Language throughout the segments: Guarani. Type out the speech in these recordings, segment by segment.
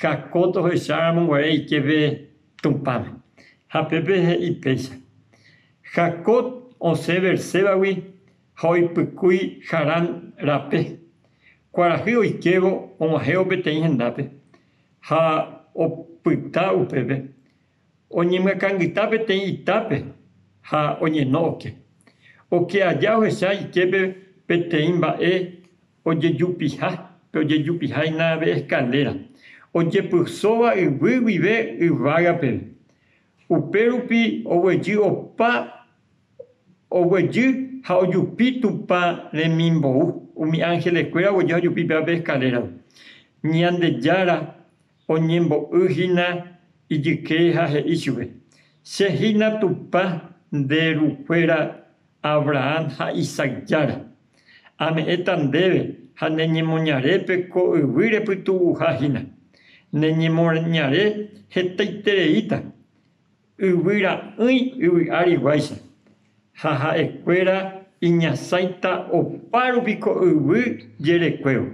ha ko tohecháramo guare iképe Tupãme. Ha pépe he'i péicha, Jacob osẽ Beersébagui ha oipykúi Harán rape. Kuarahy oikévo og̃uahẽvo peteĩ hendápe ha opyta upépe, oñemyakãngyta peteĩ itápe ha oñeno oke. Oke aja ohecha iképe peteĩ mba'e ojejupiha pe ojejupiha hína pe escaléra, ojepysóva yvy guive yvága peve. Upérupi oguejy opa oguejy ha ojupi Tupã remimbou, umi ángeleskuéra oguejy ha ojupi péva pe escalérape. Ñandejára. Oñembo'y hína ijyke ha he'i chupe, Che hína Tupã nde rukuéra Abrahán ha Isaac Jára. Ame'ẽta ndéve ha ne ñemoñarépe ko yvy repytu'uha hína. Ne ñemoñare hetaitereíta Yvy ra'ỹi yvy ári guáicha, ha ha'ekuéra iñasãita opárupi ko yvy jerekuévo.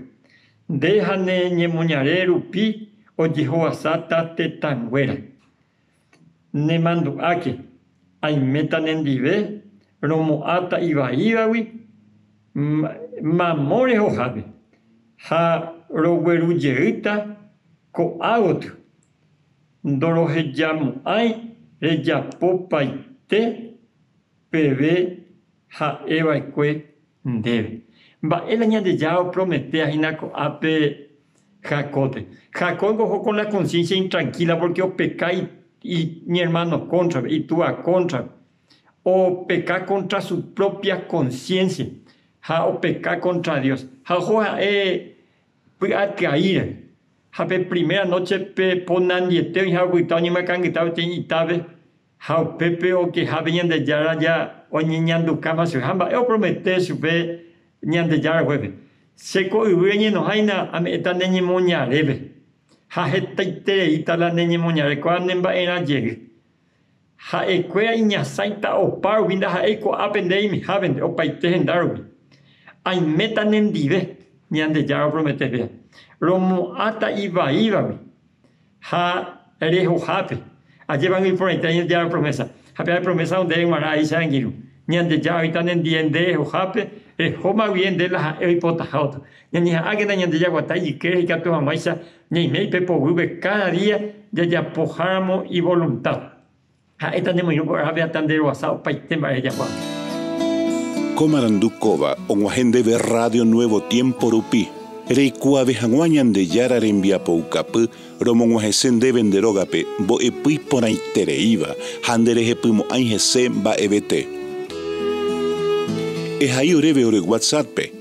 Nde ha ne ñemoñare rupi ojehovasáta tetãnguéra. Nemandu'áke, aiméta nendive romo'ãta ivaívagui mamo rehohápe, ha roguerujeýta ko'ágotyo Ndorohejamo'ãi rejapopaite peve ha'eva'ekue ndéve. Mba'e la Ñandejára oprometéva hína ko'ápe Jacópe? Jacópko oho kon la konsiénsia intrankíla pórke opeka iñermáno kóntrape, itúa kóntrape. Opeka kóntra su própia konsiénsia ha opeka kóntra Dios. Ha oho ha'e py'atyai rehe. Ha pe primera noche pe ponandiete oĩha opyta oñemyakãngyta peteĩ itápe, ha upépe okehápe Ñandejára ja oñeñanduka guasu. Ha mba'e opromete chupe Ñandejára oguépe, Che ko yvy reñenohãina ame'ẽta ne ñemoñarépe, ha hetaitereíta la ne ñemoñare, ko'ã ne mba'erã jey. Ha'ekuéra iñasãita opa rupi ndaha'éi ko'ápe nde aimehávente opaite henda rupi. Aiméta nendive, Ñandejára opromete péva, romo'ãta ivaívagui ha rehohápe. Ajépa nde iporãite Ñandejára promésa, ha pe ae promésa ndéve g̃uarã aicha angirũ. Ñandejára oĩta nendive nde rehohápe, rehómagui ende la ha'e oipotaha otro. Ñañeha'ãkena ñande jaguata ijykére ikatu hag̃uáicha Ñaiméi pe poguýpe káda día jajapoháramo ivolunta. Ha'éta nemoirũ ko'ápe hasta nderoasa opaite mba'e rejapo'ápe. Ko marandu kóva og̃uahẽ ndéve Rrádio Nuevo Tiémpo rupi, reikuaave hag̃ua Ñandejára rembiapoukapy romog̃uahẽse ndéve nde rógape mbo'epy porãitereíva ha nderehepymo'ãi hese mba'evete. Ehai oréve ore WhatsApp-pe.